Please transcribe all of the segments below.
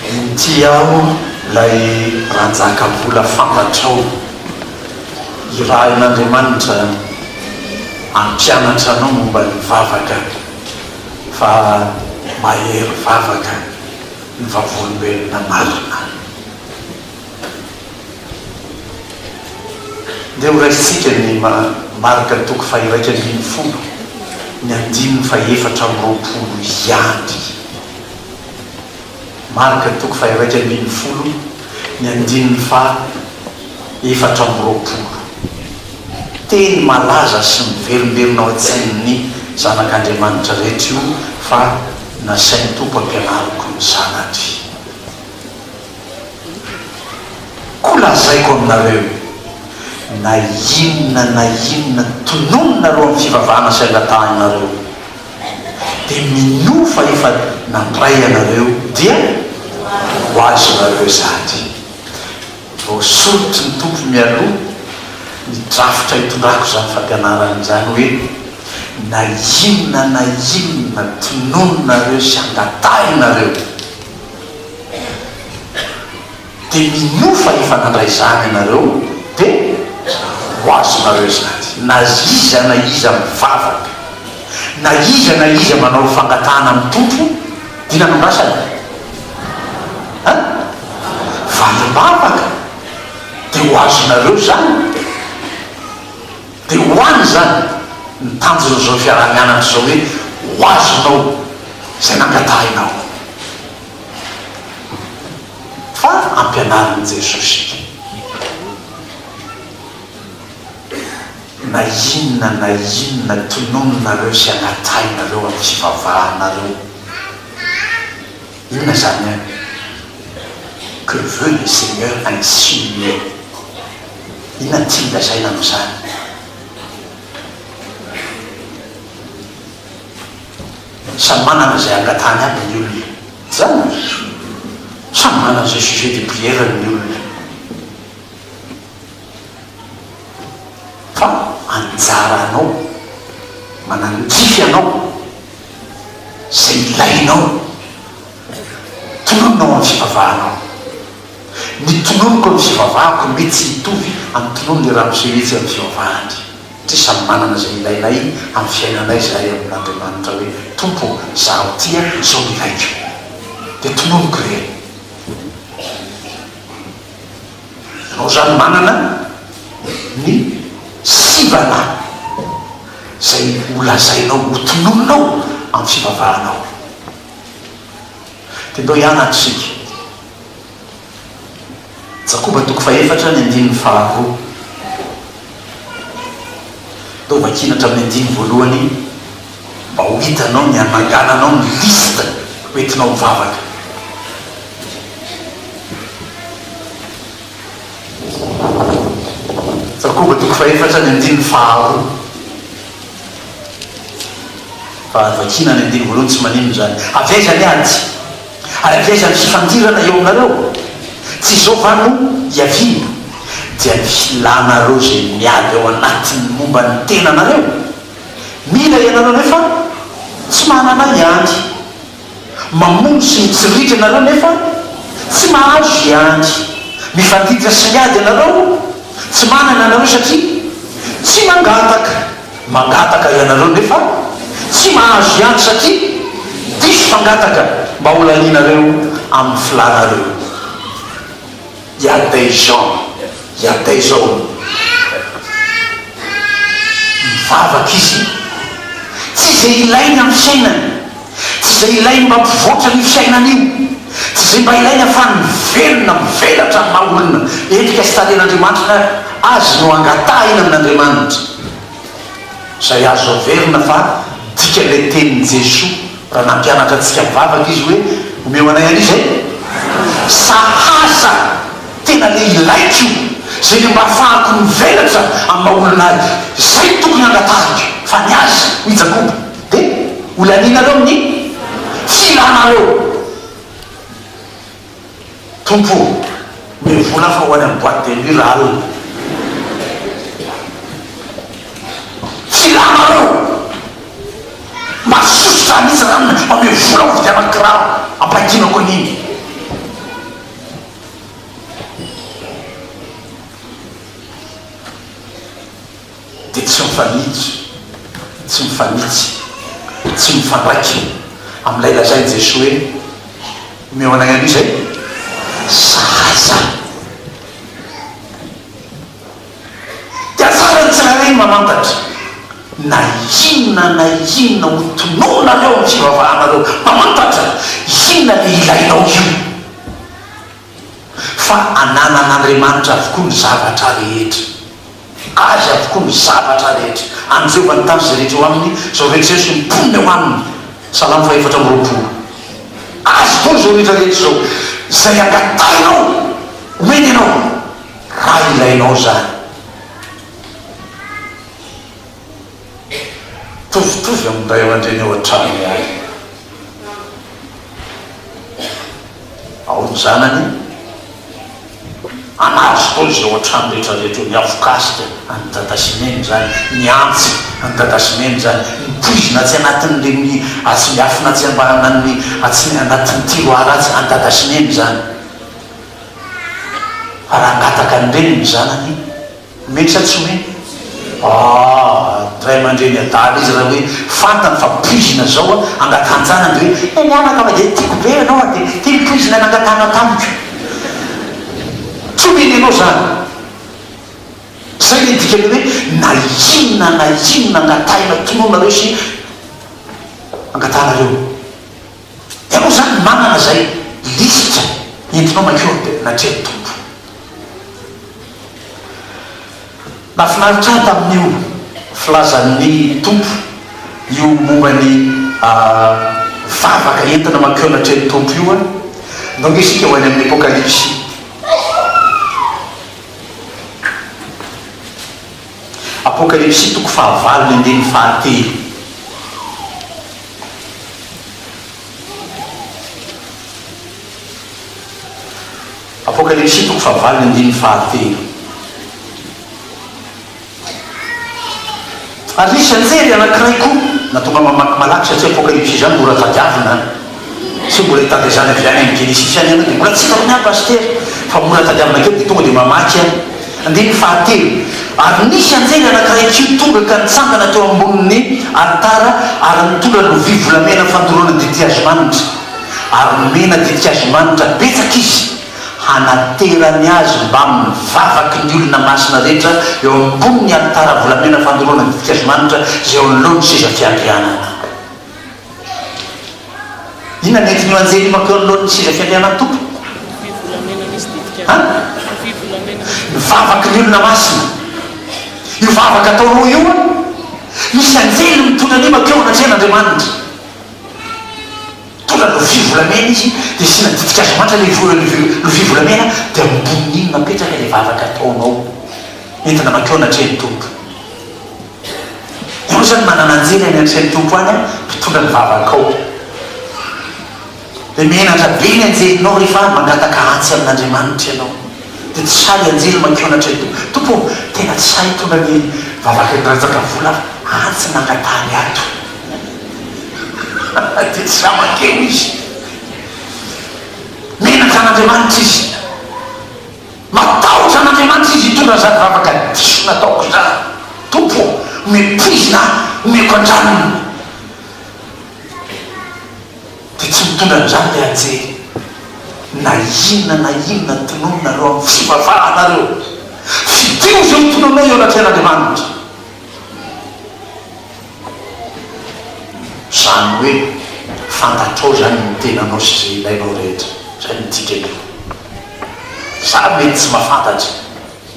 Inty aho ilay Ranjaka mbola fantatrao. Irahin'Andriamanitra hampianatra anao momba ny vavaka fa mahery vavaka ny vavolombelona marina. Ndeha horaisintsika ny marika toko faha-iraika ambin'ny folo, ny andininy faha-efatra amby roapolo ihany. Marika toko faha-iraika ambin'ny folo, ny andininy faha-efatra amby roapolo. Teny malaza sy miverimberina ao an-tsain'ny zanak'Andriamanitra rehetra io fa nasain'ny Tompo ampianariko ny zanany. Koa lazaiko aminareo, na inona na inona tonononareo amin'ny fivavahana sy angatahinareo, dia minoa fa efa nandray anareo, dia ho azonareo izany. Voasoritry ny Tompo mialoha ny drafitra hitondrako izany fampianarana izany hoe, na inona na inona tonononareo sy angatahinareo, Dia mino fa efa nandray izany ianareo dia ho azonareo izany. Na iza na iza mivavaka, na iza na iza manao fangatahana amin'ny Tompo, dia nanandrasana an! valim-bavaka, dia ho azonareo izany. Dia ho any izany ny tanjon'izao fiaraha-mianatra izao hoe, ho azonao izay nangatahinao. Fa ampianarin'i Jesosy ity. Na inona na inona tononinareo sy angatahinareo amin'ny fivavahanareo, inona izany an? Que veut le Seigneur insinuer? Inona no tiany lazaina amin'izany? Samy manana izay angatahany aby ny olona. Izany no diso. Samy manana izay sujet de prière-ny ny olona. Fa anjaranao, manangify ianao izay ilainao. Tononina ao amin'ny fivavahanao. Ny tononiko amin'ny fivavahako mety tsy hitovy amin'ny tonon'ilay ramose mihitsy amin'ny fivavahany. Tsy samy manana izay ilainay amin'ny fiainanay izahay amin'Andriamanitra hoe, Tompo ô, izaho tia, sao milaiko. Dia tononiko re. Ianao izany manana ny sivana izay holazainao, hotononinao amin'ny fivavahanao. Dia ndao hianatra isika. Jakoba toko fahefatra ny andininy faharoa. Ndao vakina hatramin'ny andininy voalohany mba ho hitanao ny hanangananao ny liste ho entinao mivavaka. Jakoba toko fahefatra ny andininy faharoa. Fa vakina ny andininy voalohany tsy maninona izany. Avy aiza ny ady? Ary avy aiza ny fifandirana eo aminareo? Tsy izao va no hiaviana? Dia ny hilanareo izay miady ao anatin'ny momba ny tenanareo? Mila ianareo nefa tsy manana hiany. Mamono sy mitsiritra ianareo nefa tsy mahazo hiany. Mifandiditra sy miady ianareo tsy manana ianareo satria tsy mangataka. Mangataka ianareo nefa tsy mahazo ihany satria diso fangataka mba ho lanianareo amin'ny filanareo. Yadeh Jean, Yadeh izao mivavaka izy, tsy izay ilainy amin'ny fiainany. Tsy izay ilainy mba hampivoatra ny fiainana io. Tsy izay mba ilainy hahafahany mivelona, mivelatra amin'ny maha olona endrika sy tarehin'Andriamanitra azy no angatahina amin'Andriamanitra. Izay azo averina fa dikan'ilay tenin'i Jesoa raha nampianatra antsika mivavaka Izy hoe, Omeo anay anie izay sahaza tena le ilaiko io, izay le mba hahafahako mivelatra amin'ny maha olona ahy. Izay no tokony hangatahiko fa ny Azy, hoy Jakoba. Dia ho lanianareo amin'ny filanareo. Tompo o, omeo vola aho fa ho any amin'ny boite de nuit raha alina. Filanareo. Mazototra hanitsy ranona, omeo vola aho hividianako kiraro ampahitinako an'iny. dia tsy mifanitsy, tsy mifanitsy, tsy mifandraika amin'ilay lazain'i Jesoa hoe, Omeo anay aloha izay zaza. Dia tsara ny tsirairay ny mamantatra, na inona na inona ho tonononareo amin'ny fivavahanareo, mamantatra inona no ilainao io. fa ananan'Andriamanitra avokoa ny zavatra rehetra, Azy avokoa ny zavatra rehetra, an'i Jehovah ny tany sy izay rehetra eo aminy, izao rehetra izao sy ny mponina eo aminy, Salamo fahefatra amby roapolo. Azy avokoa izao rehetra rehetra izao, izay angatahinao homeny anao, raha ilainao izany. mitovitovy amin'ny ray aman-dreny ao an-trano ihany. Ao ny zanany anaty fotoana izay ao an-trano rehetra rehetra eo, ny afokasika an'i dada sy neny izany, ny antsy an'i dada sy neny izany, ny poizina atsy anatin'ny lemia, atsy miafina atsy ambaranan'ny, atsy anatin'ny tiroara atsy, an'i dada sy neny izany. Fa raha hangataka an'i reny ny zanany, Mety sa tsy mety? Aah ray aman-dreny adala izy raha hoe fantany fa poizina zao an, angatanjana de hoe eh mianaka fa de tiako be ianao an, de ty ny poizina nangatahana tamiko. Tsy omeny anao zany. Zay le dikany hoe na inona na inona angatahina tononareo sy angatahanareo. Ianao izany manana izay lisitra entinao makioro dia natrehan'ny Tompo. Nahafinaritra ahy tamin'io filazan'ny Tompo io momba ny vavaka entina mankeo natrehan'ny Tompo io an! Ndao nge isika ho any amin'ny Apokalypsy. Apokalypsy toko fahavalo ny andininy fahatelo. Apokalypsy toko fahavalo andininy fahatelo Ary nisy anjely anankiray koa na tonga mamaky malaky satria apokalypsy izany mora tadiavina an! satria mbola hitandrezana avy any amin'ny Genesisy any ianao dia mbola tsy efa miha pasitera fa mora tadiavina kely dia tonga dia mamaky an! Andininy fahatelo, Ary nisy anjely anankiray kely tonga ka nitsangana teo ambonin' ny alitara, ary nitondra lovia volamena fandoroana didihazomanitra, ary nomena didihazomanitra betsaka izy hanaterany azy mbamin' ny vavaky ny olona masina rehetra eo ambonin' ny alitara volamena fandoroana didihazomanitra izay eo anoloan' ny seza fiandrianana. Inona ny hevitry ny anjely mankeo anoloan'ny seza fiandrianan'ny Tompo? Ny vavaky ny olona masina. Io vavaka atao roa io, misy anjely mitondra an'i mankeo anatrehan'Andriamanitra. Mitondra lovia volamena izy, dia asiana ditin-kazo manitra ilay lovia volamena, dia ambonin'iny napetraka ilay vavaka ataonao, entina mankeo anatrehan'ny Tompo. Hoy izany manananjely any antrely Tompo any mpitondra ny vavakao. Dia menatra be ny anjelinao rehefa avy mangataka atsy amin'Andriamanitra ianao. Dia tsy sahy anjely mankeo anatrehan'ny Tompo. Tompo ô, tena tsy sahy hitondra ny vavakan'i Ranjakavola aho fa atsy nangataha ny ato. Dia tsy sahy mankeo izy. Menatra an'Andriamanitra izy. Matahotra an'Andriamanitra izy hitondra an'izany vavaka diso nataoko izany. Tompo ô, méprise ahy, omeko an-drariny. Dia tsy mitondra an'izany ilay anjely. Na inona na inona tononinareo amin'ny fivavananareo, fidio izay hotononao eo anatrehan'Andriamanitra. Izany hoe fantatrao izany ny tenanao sy izay ilainao rehetra. Izay no midika ny rohy. Za mety tsy mahafantatra,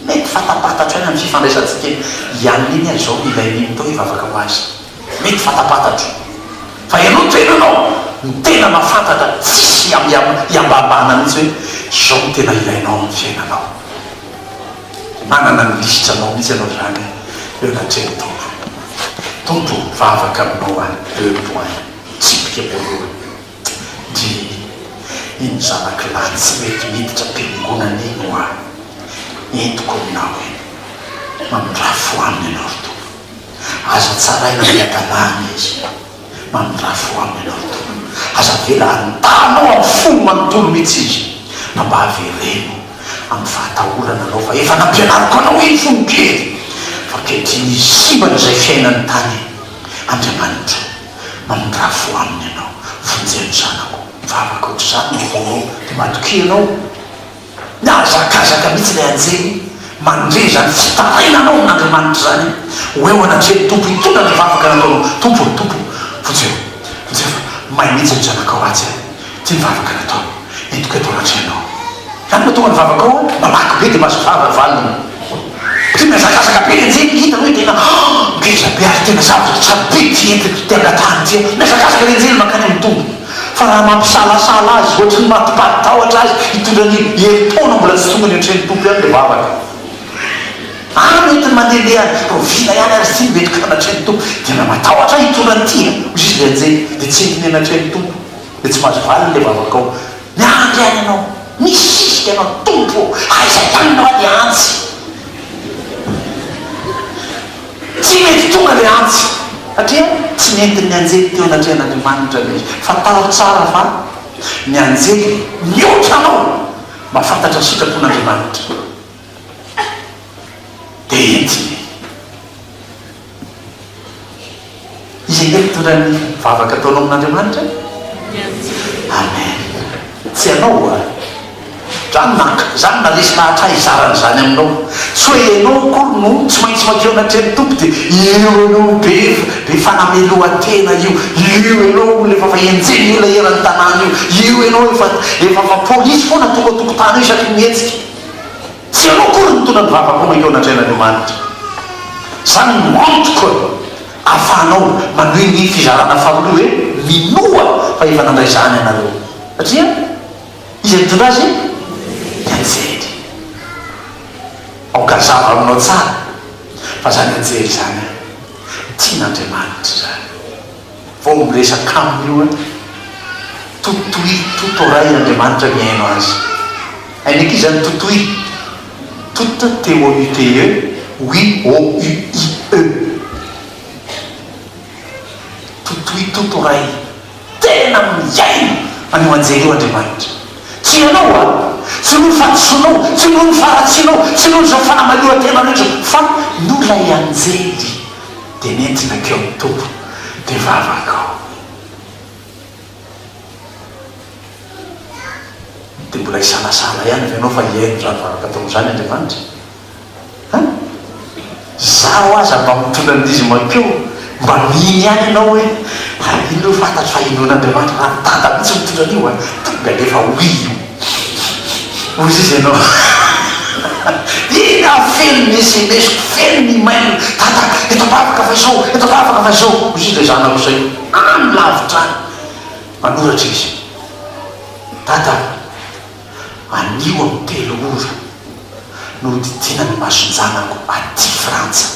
mety fantapatatro ihany amin'ny fifandraisantsika eny. I Anne iny ary izao ilainy iny tao hivavaka ho azy. Mety fantapatatro. Fa ianao tenanao, ny tena mahafantatra, tsisy iambambana mihitsy hoe izao no tena ilainao amin'ny fiainanao. Manana ny lisitra nao mihitsy ianao zany eo anatrehan'ny Tompo. Tompo o, vavaka aminao aho, deux points, tsipika voalohany. Dimy, iny zanako lahy tsy mety miditra am-piangonana iny ho aho, entiko aminao iny. Manondrafo aminy ianao ry Tompo. Aza tsaraina amin'ny hadalahana izy. Mandrafo aminy ianao ry Tompo. Aza avela handalo amin'ny fony manontolo mihitsy izy, fa mba avereno amin'ny fahatahorana Anao, fa efa nampianariko anao iny fony kely, fa ankehitriny izy simbana izay fiainany tany. Andriamanitra, mandrafo aminy ianao. Vonjeo ny zanako. Fa ankoatr'izany, raha vao matokia Ianao, Mihazakazaka mihitsy ilay anjely mandre izany fitarainana ao amin'Andriamanitra izany ho eo anatrehan'ny Tompo hitondra ny vavaka nataonao. Tompo ô, Tompo ô, vonjeo, vonjeo fa may mihitsy ny zanakao ratsy an! Ity ny vavaka nataony, entiko eto anatrehanao. Izany no tonga ny vavakao an! Malaky be dia mahazo vava valiny. Dia mihazakazaka be ny anjely hitany hoe tena ngeza be ary tena zavatra tsara be ity entiko ity angatahany ity an! Mihazakazaka ny anjely mankany amin'ny Tompo. Fa raha mampisalasala azy hoatry ny mati-pari-tahotra azy hitondra ny herintaona mbola tsy tonga ny ohatry ny Tompo ihany ilay vavaka. Ary mety ny mandehandeha any Proviana ihany aza ity no mety ka hanatreha ny Tompo. Dia raha matahotra ahy hitondra ny tia, hoy izy ilay anjely, dia tsy entin'ny hanatreha ny Tompo. Dia tsy mahazo valiny ilay vavakao. Miandry any ianao. Misisika ianao. Tompo ô, aiza ihany ianao anie antsy? Tsy mety tonga le antsy satria tsy nentin'ny anjely teo anatrehan'Andriamanitra le izy. Fantaro tsara fa ny anjely mihoatra anao mba fantatra ny sitrapon'Andriamanitra de entiny. Izay tena mitondra ny vavaka ataonao amin'Andriamanitra? Amen. Tsy ianao oa? Za no naka, za no naresy lahatra hizara an'izany aminao. Tsy hoe ianao akory no tsy maintsy madio anatrehan'ny Tompo dia io ianao be be fanamelohan-tena io, io ianao olona efa fa enjehin'ny olona eran'ny tanàna io, io ianao efa efa fa polisy foana tonga an-tokotany eo isaky ny mihetsika. Tsy ianao akory no mitondra ny vavako mankeo an'Andriananiomanitra. Izany no antoko ahafahanao manohy ny fizarana faharoa hoe minoa fa efa nandray izany ianareo. Satria iza nitondra azy? I Anjely. Aoka hazava aminao tsara fa izany Anjely izany an, tian'Andriamanitra izany. Vao miresaka aminy io an! Totoy, Tutoray Andriamanitra mihaino azy. Hainy akia izany Totoy? Tut, T-o-u-t-e, ui, o-u-i-e. Totoy, Tutoray, tena mihaino an'io anjely io Andriamanitra. Tsy ianao an! Tsy noho ny fahadisoanao, tsy noho ny faharatsianao, tsy noho izao fanamalohan-tenanao izao, fa noho ilay anjely. dia nentina teo amin'ny Tompo ny vavako. Dia mbola hisanasana ihany ve ianao fa hihaino izany vavaka ataonao izany Andriamanitra? An! Izaho aza mba mitondra ny dizy mankeo, mba mino ihany ianao hoe raha iny no fantatro fa hinoan'Andriamanitra, raha ny dada mihitsy mitondra an'io an, tonga dia efa ho io. Hoy izy ianao Inona aho feno ny sms ko, feno ny email, Dada eto am-bavaka fa izao, eto am-bavaka fa izao, hoy ilay zanako izay any lavitra any. Manoratra izy, Dada anio amin'ny telo ora no hodidiana ny mason-janako aty Frantsa.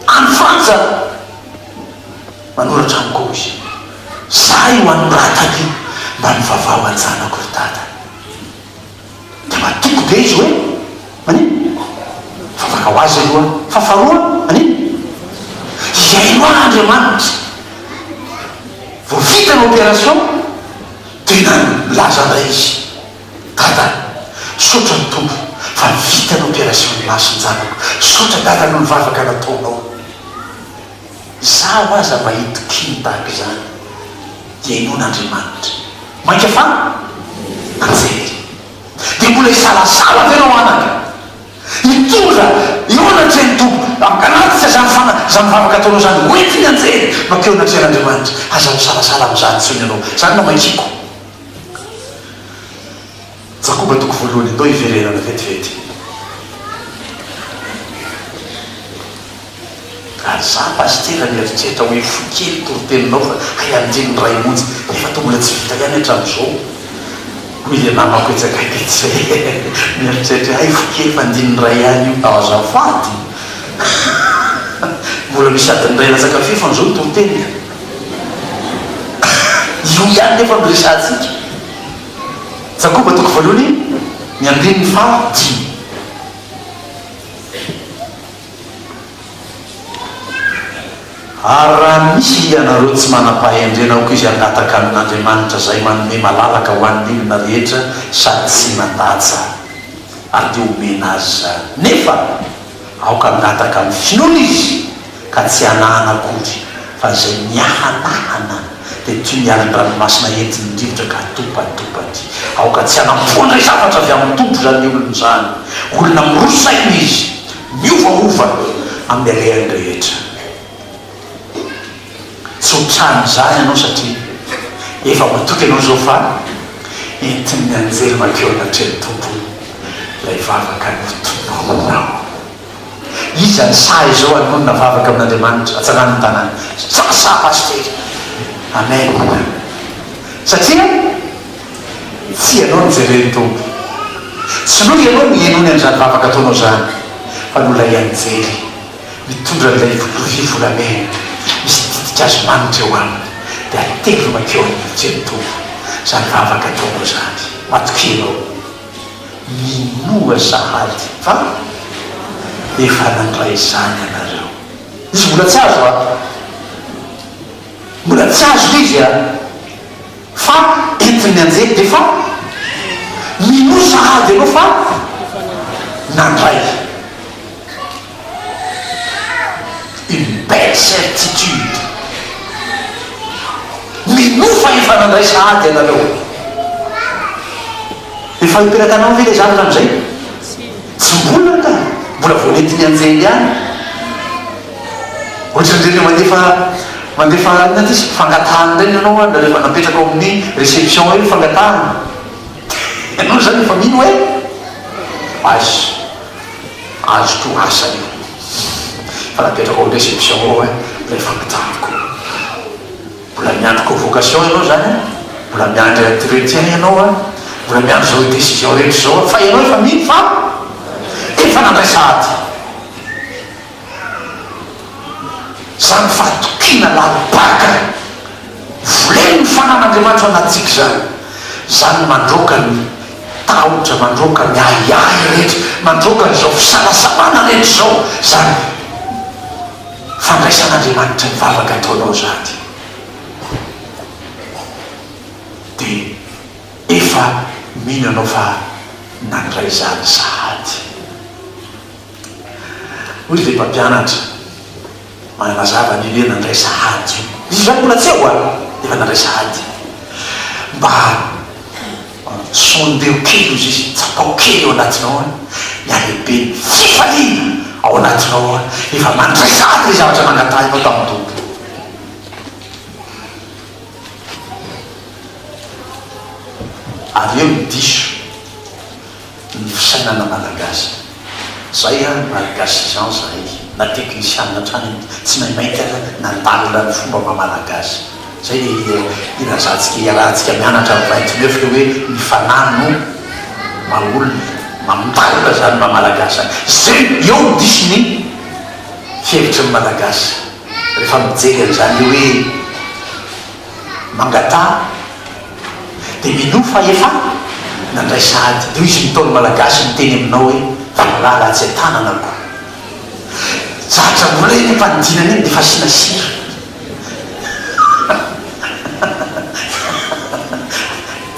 Any Frantsa manoratra amiko ao izy. Za io any mirataka io mba mivavaha ho an-janako ry dada. Dia matoky be izy hoe manino? Mivavaka ho azy aloha fa faharoa manino? Hihaino ahy Andriamanitra. Vao vita ny opération dia nano milaza indray izy. Dada, misaotra ny Tompo fa vita ny operation ny mason-janako, misaotra Dada noho ny vavaka nataonao. Izaho aza mba hitokiany tahaka izany dia inoana Andriamanitra. Mainka fa nanjely. Dia mbola hisalasala ve ianao anaka? Hitondra eo anatrehan'ny Tompo, mankanatitra izany fana, izany vavaka ataonao izany, hoentiny anjely, makeo anatrehan'Andriamanitra. Aza misalasala amin'izany intsony ianao. Izany no amakiako. Jakoba toko voalohany atao hiverenana vetivety. Ary za pasitera mieritreritra hoe fohy kely toriteninao fa hay andreny ny ray monja nefa toa mbola tsy vita ihany hatramin'izao hoy le namako etsy akaiky etsy mieritreritra hoe hay fohy kely fa andininy ray ihany io tao azafady mbola misy adiny ray latsaka fefany zao ny toriteniko Io ihany nefa no resahantsika. Jakoba toko voalohany, ny andininy faha dimy. Ary raha misy hianareo tsy manam-pahendrena aoka izy hangataka amin' Andriamanitra izay manome malalaka ho an' ny olona rehetra sady tsy mandatsa, ary dia homena azy izany. Nefa aoka hangataka amin' ny finoana izy. ka tsy anahana akory fa izay miahanahana dia toy ny alin'ny ranomasina entin'ny rivotra ka atopatopaty. Aoka tsy hanampoa indray zavatra avy amin'ny Tompo izany olona izany, olona miroso saina izy, miovaova amin'ny alehany rehetra. Tsy ho trany izany ianao satria efa matoky ianao izao fa entin'ny anjely mankeo anatrehan'ny Tompo ilay vavaka notononinao. Iza no sahy izao hanonona vavaka amin'Andriamanitra hatsarany ny tanàna? Sasa Pasitera. Amen. Satria tsy ianao no jeren'ny Tompo. Tsy noho ianao no ihainoany an'izany vavaka ataonao izany fa noho ilay Anjely mitondra an'ilay lovia volamena misy ditin-kazo manitra eo aminy dia atevy mankeo amin'ny lovian'ny Tompo izany vavaka ataonao izany. Matokia ianao. Minoa sahady fa efa nandray izany ianareo. Izy mbola tsy azo an! Mbola tsy azo izy an! Fa entin'ny anjely dia fa minoa sahady ianao fa nandray. Une belle certitude! Minofa efa nandray sahady ianareo. Efa hiteraka anao ve ilay zandrina amin'izay? Tsy mbola anga, mbola vao nety nianjera ihany. Ohatran'ny rehefa mandefa mandefa inona ity izy? Fangatahana indray ny anao ary rehefa napetraka ao amin'ny réception eo ny fangatahana. Ianao izany efa mino hoe aiza? Azo to asa io fa napetrako am reception ao an ilay famantarako. Mbola miandry convocation ianao zany an, mbola miandry entretien ianao an, mbola miandry zao decision rehetra zao an, fa ianao efa mino fa efa nandraisa ady. Izany fahatokiana lalim-paka volen'ny fanan'Andriamanitra anantsika izany, izany mandroaka ny tahotra, mandroaka ny ahiahy rehetra, mandroaka an'izao fisalasalana rehetra izao izany fandraisan'Andriamanitra ny vavaka ataonao izany, dia efa mino ianao fa nandray izany sahady. Hoy ilay mpampianatra manana mazava an'io hoe nandraisa ady io. Izy izany mbola tsy eo an, dia efa nandraisa ady. Mba sondeo kely hozy izy, tsapao kely ao anatinao an, ny halehiben'ny fifaliana ao anatinao an, efa mandraisa ady ny zavatra nangatahinao tamin'ny Tompo. Ary eo ny diso. ny fisainana malagasy. Zay ary ny malgasy izany zahay na technician hatrany amidy tsy maimaika ary nandalina ny fomba maha malagasy. Zay le hirazantsika hiarahantsika mianatra amin'ny vingt neuf le hoe ny fanahy no maha olona e. Mandalina zany maha malagasy any. Zay eo no diso ny fihevitry ny malagasy refa mijery an'zany hoe mangataha. dia minoa fa efa nandray sahady toy izay nataon'ny Malagasy niteny aminao hoe valala atsy an-tanana ko. Zatra mbola iny ampanidinana iny dia efa asiana sira.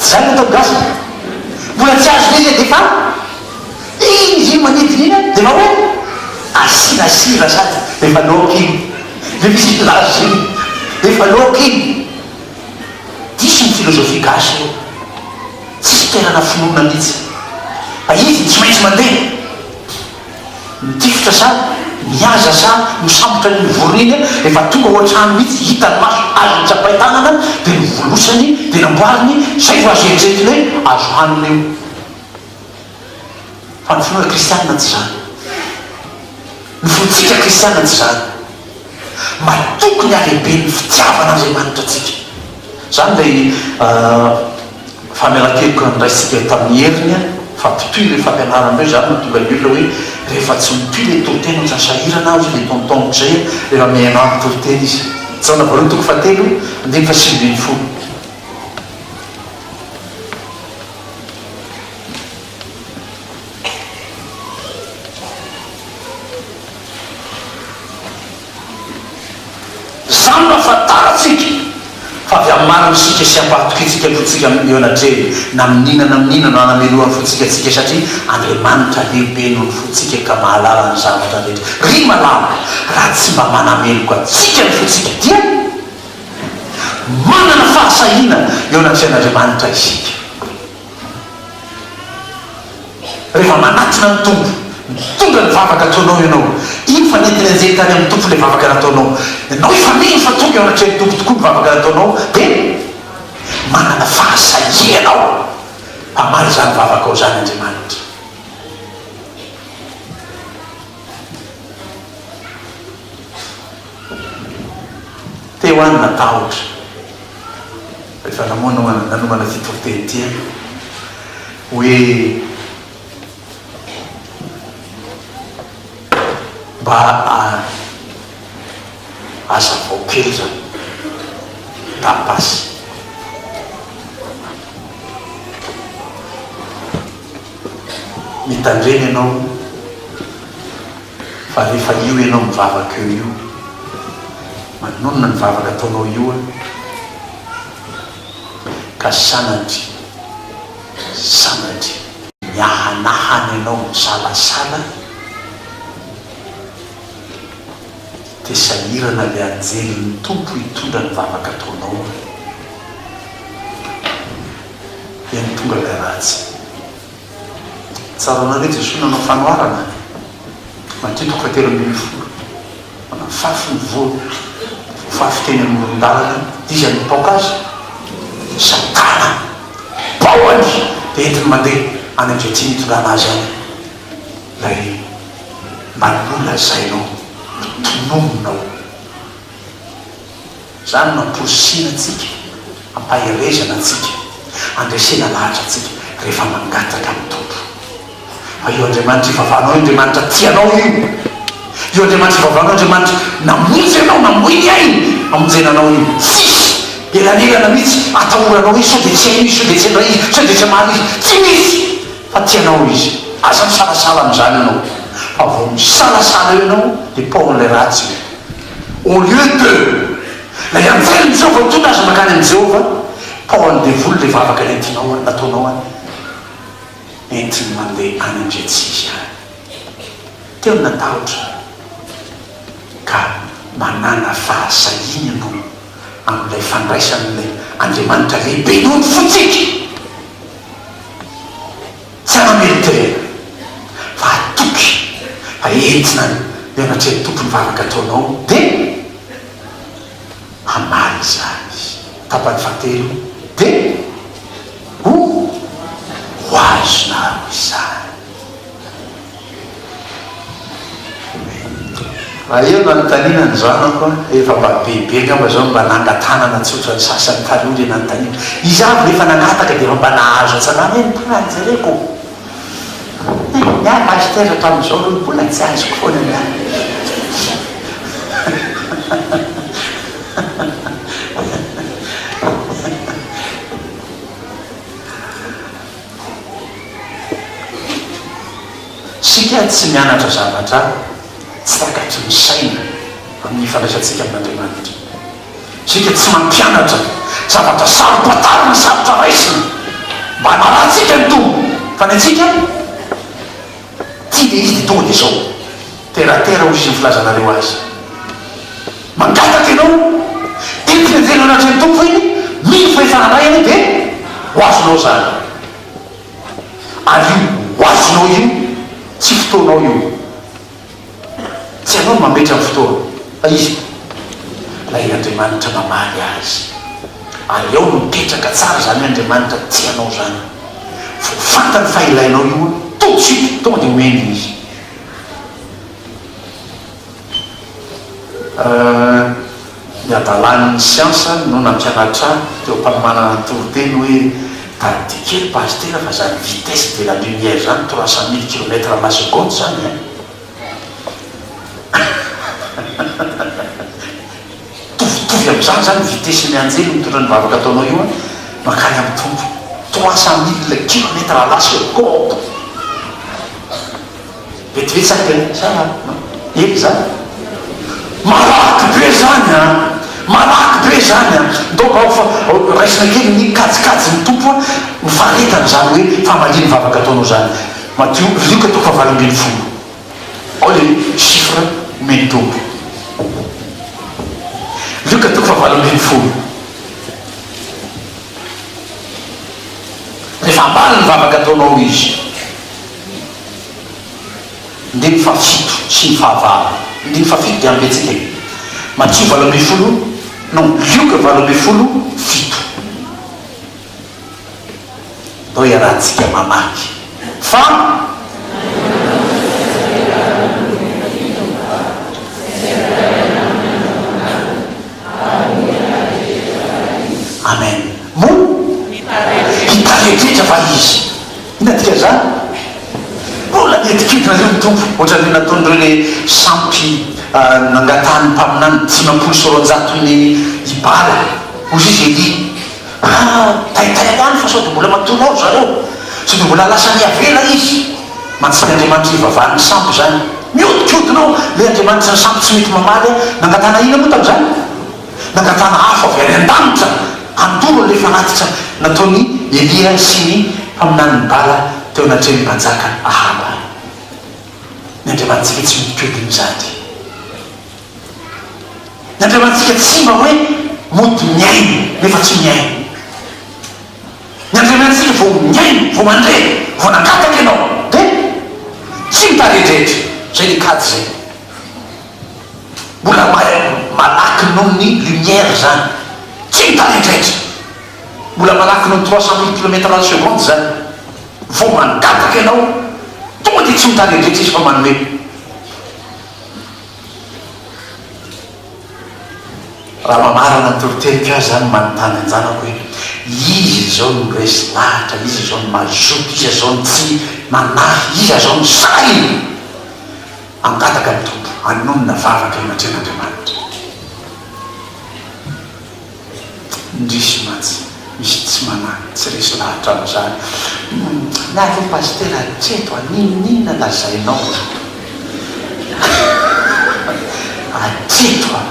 Izany no ataon'ny gasy. Mbola tsy azony izy dia efa iny izy iny manidina iny dia efa hoe asiana sira sady efa laoka iny. Dia misy filaza izay hoe efa laoka iny. Diso ny filozofia gasy io. Tsy fitoerana finoana mihitsy. Fa izy tsy maintsy mandeha. Mitifitra sa mihaza sa misambotra ny vorona iny rehefa tonga ao an-trano mihitsy hitany maso azony tsapain tanana dia novolosany dia namboariny izay vao azo eritreretiny hoe azo hanina io. Fa ny finoana kristianina tsy izany. Ny fontsika kristianina tsy izany. Mba tokony halehiben'ny fitiavana Andriamanitra antsika. Izany ilay famelan-keloka noraisintsika tamin'ny heriny fa mpitohy ilay fampianarana hoe izany no mahatonga ny olona hoe rehefa tsy mitohy ilay toriteny ohatran'ny sahirana hozy ilay tonton J rehefa mihaino aminy toriteny izy. Jaona voalohany toko fahatelo andininy fahasivy ambin'ny folo. Izany no ahafantarantsika fa avy amin'ny marina isika sy ampahatokiantsika ny fontsika eo anatrehiny na amin'ny inona na amin'ny inona no hanamelohany fontsika antsika satria Andriamanitra lehibe noho ny fontsika ka mahalala ny zavatra rehetra. Ry malala, raha tsy mba manameloka antsika ny fontsika dia manana fahasahiana eo anatrehan'Andriamanitra isika. Rehefa manatona ny Tompo, mitondra ny vavaka ataonao ianao, iny fa nentiny hianjera tany amin'ny Tompo ilay vavaka nataonao, ianao efa mino fa tonga eo anatrehan'ny Tompo tokoa ny vavaka nataonao, dia manana fahasahiana ianao hamaly izany vavakao izany Andriamanitra. Teo aho natahotra rehefa nanomana ity toriteny ity aho hoe mba hazavao kely izany tapas. Mitandrema ianao fa rehefa io ianao mivavaka eo io, manonona ny vavaka ataonao io an! Ka sanatria, sanatria. Miahanahana ianao misalasala dia sahirana ilay anjelin'ny Tompo hitondra ny vavaka ataonao an! dia nitondra ilay ratsy. Tsaroanareo Jesoa nanao fanoharana, Matio toko fahatelo ambin'ny folo, Manafafy ny voany, voafafy teny amoron-dalana izy ary nipaoka azy, Satana, paohany dia entiny mandeha any amin'izay tiany hitondrana azy any. Ilay mba nolazainao, notononina ao. Izany no amporisihina antsika, ampaherezana antsika, andresena lahatra antsika rehefa mangataka amin'ny Tompo. Fa io Andriamanitra ivavahanao io Andriamanitra tia anao io. Io Andriamanitra ivavahanao io Andriamanitra namonjy anao, namoy ny ainy hamonjena anao io. Tsisy elanelana mihitsy atahoranao izy, sao dia tsy hainao izy, sao dia tsy handray izy, sao dia tsy hamaly izy. Tsy misy fa tia anao izy. Aza misalasala amin'izany ianao, fa vao misalasala eo ianao dia paohan'ilay ratsy io. Au lieu de, ilay anjelin'i Jehovah mitondra azy mankany amin'i Jehovah, Paolin'ny devoly dia vavaka entinao any, nataonao any, entiny mandeha any ndre tsy izy any. Teo ny natahotra ka manàna fahasahiana ianao amin'ilay fandraisan'ilay Andriamanitra lehibe noho ny fontsika. Tsara ny riterena fa atoky fa entina ny mianatra eny tompony vavaka ataonao de hamaly izany tapany fahatelo de ho ho azonao izany. Raha eo no anontaniana ny zanako an, efa mba bebe angamba izao no mba nangatanana tsotra ny sasany taloha ilay nanontaniana. Izy avy rehefa nangataka dia efa mba nahazo atsy an'ala hoe ny mbola no jereko. Hii, ny ahy pasitera hatramin'izao aloha ny mbola tsy azoko foana ny ahy. Isika tsy mianatra zavatra tsy takatry ny saina amin'ny fandraisantsika amin'Andriamanitra. Isika tsy mampianatra zavatra saro-pantarina na sarotra raisina mba hanarantsika ny Tompo, fa ny antsika. Ty dia izy dia tonga dia izao, terre à terre hoy izy ny filazanareo azy. Mangataka ianao, dia teny an-jelohan'Andrian'ny Tompo iny, mino fa efa nanahy ianao dia ho azonao izany. Ary io ho azonao io, tsy fotoanao io. Tsy ianao no mametra ny fotoana, fa Izy e! Ilay Andriamanitra namaly azy. Ary ao no mipetraka tsara izany Andriamanitra tia anao izany. Vao fantany fa ilainao io an, tout de suite, tonga dia omeny Izy. Euh. Ny hadalan'ny siansa no nampianatra ahy teo am-panomanana ny toriteny hoe tadidio kely pasitera fa izany vitesse de la lumière izany trois cent mille kilomètre à la seconde izany an! Mitovitovy amin'izany izany vitesse-n'ny anjely mitondra ny vavaka ataonao io an! mankany amin'ny Tompo! trois cent mille kilomètre à la seconde! Vetivety ve? Sa ela izany? Malaky be izany an! Malaky be izany an! Donc ao fa raisina kely ny kajikajin'ny Tompo an! Ny faharetany izany hoe famalian'ny vavaka ataonao izany. Matio, Lioka toko fahavalo ambin'ny folo. Ao ilay chiffre omen'ny Tompo. Lioka toko fahavalo ambin'ny folo. Rehefa hamaly ny vavaka ataonao Izy. Andininy fahafito sy ny fahavalo. Andininy fahafito dia ambetsika e. Matio valo ambin'ny folo, non, Lioka valo ambin'ny folo, fito. Andao iarahantsika mamaky fa. Amen. Moa? Mitaretretra va izy? Inona dikan'izany? Mbola nihetikitinareo ny Tompo, hoatran'ireo nataon'ireo ilay sampy nangatahan'ny mpaminany dimampolo sy roanjato ny i Bala. Hoy izy Elia, Ah, taitai ho any fa sao dia mbola matory ao ry zareo, sao dia mbola lasa niavela izy. Mantsy Andriamanitra ivavahan'ny sampy izany. Mihodinkodina ao ilay Andriamanitry ny sampy tsy mety mamaly ahy. Nangatahana inona moa tamin'izany? nangatahana afo avy any an-danitra handoro ilay fanatitra nataon'i Elia sy ny mpaminanin'i Bala teo anatrehan'ny mpanjaka Ahaba. Ny Andriamanitsika tsy modikodin' izany. Ny Andriamanitsika tsy mba hoe mody mihaino nefa tsy mihaino. Ny Andriamanitsika vao mihaino, vao mandre, vao nangataka ianao dia tsy mitaredretra. Izay ny kajy izay. Mbola malaky noho ny lumière zany. Tsy midraidraitra. Mbola malaky noho ny trois cent mille kilomètre à la seconde zany. Vao mangataka ianao, tonga dia tsy midraidraitra izy fa manome. Raha mamarana ny toriteriko ahy zany manontany an-janako hoe iza izao no resy lahatra, iza izao no mazoto, iza izao no tsy manahy, iza izao no sahy? Hangataka ny Tompo hanonona vavaka eo anatrehan'Andriamanitra. Indrisy mantsy misy tsy manahy, tsy resy lahatra amin'izany. Nahy ry Pasitera hatreto an, n'inon'inona lazainao an. Hatreto an.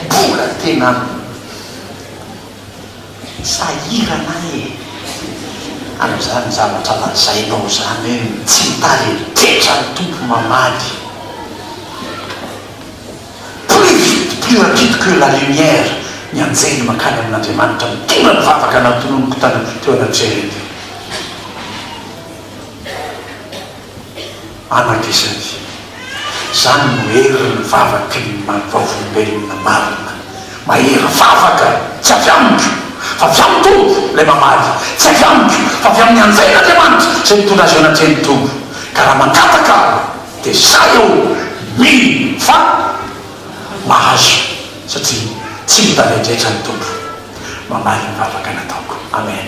Mbola tena an. Sahirana aho e! amin'izany zavatra lazainao izany hoe tsy mitariny ketra ny Tompo mamaly. Plus vite, plus rapide que la lumière ny anjely mankany amin'Andriamanitra mitondra ny vavaka nantononiko tany teo anatrehany teo. An'ankiziny, izany no herin'ny vavaky ny Maha-Vavolombelona marina. Mahery vavaka, tsy avy amiko, fa avy amin'ny Tompo, ilay mamaly, tsy avy amiko, fa avy amin'ny anjel'Andriamanitra izay nitondra azy eo anatrehan'ny Tompo. Ka raha mangataka aho, dia izaho eo, mino fa mahazo, satria tsy ny talendraetra ny Tompo mamaly ny vavaka nataoko. Amen.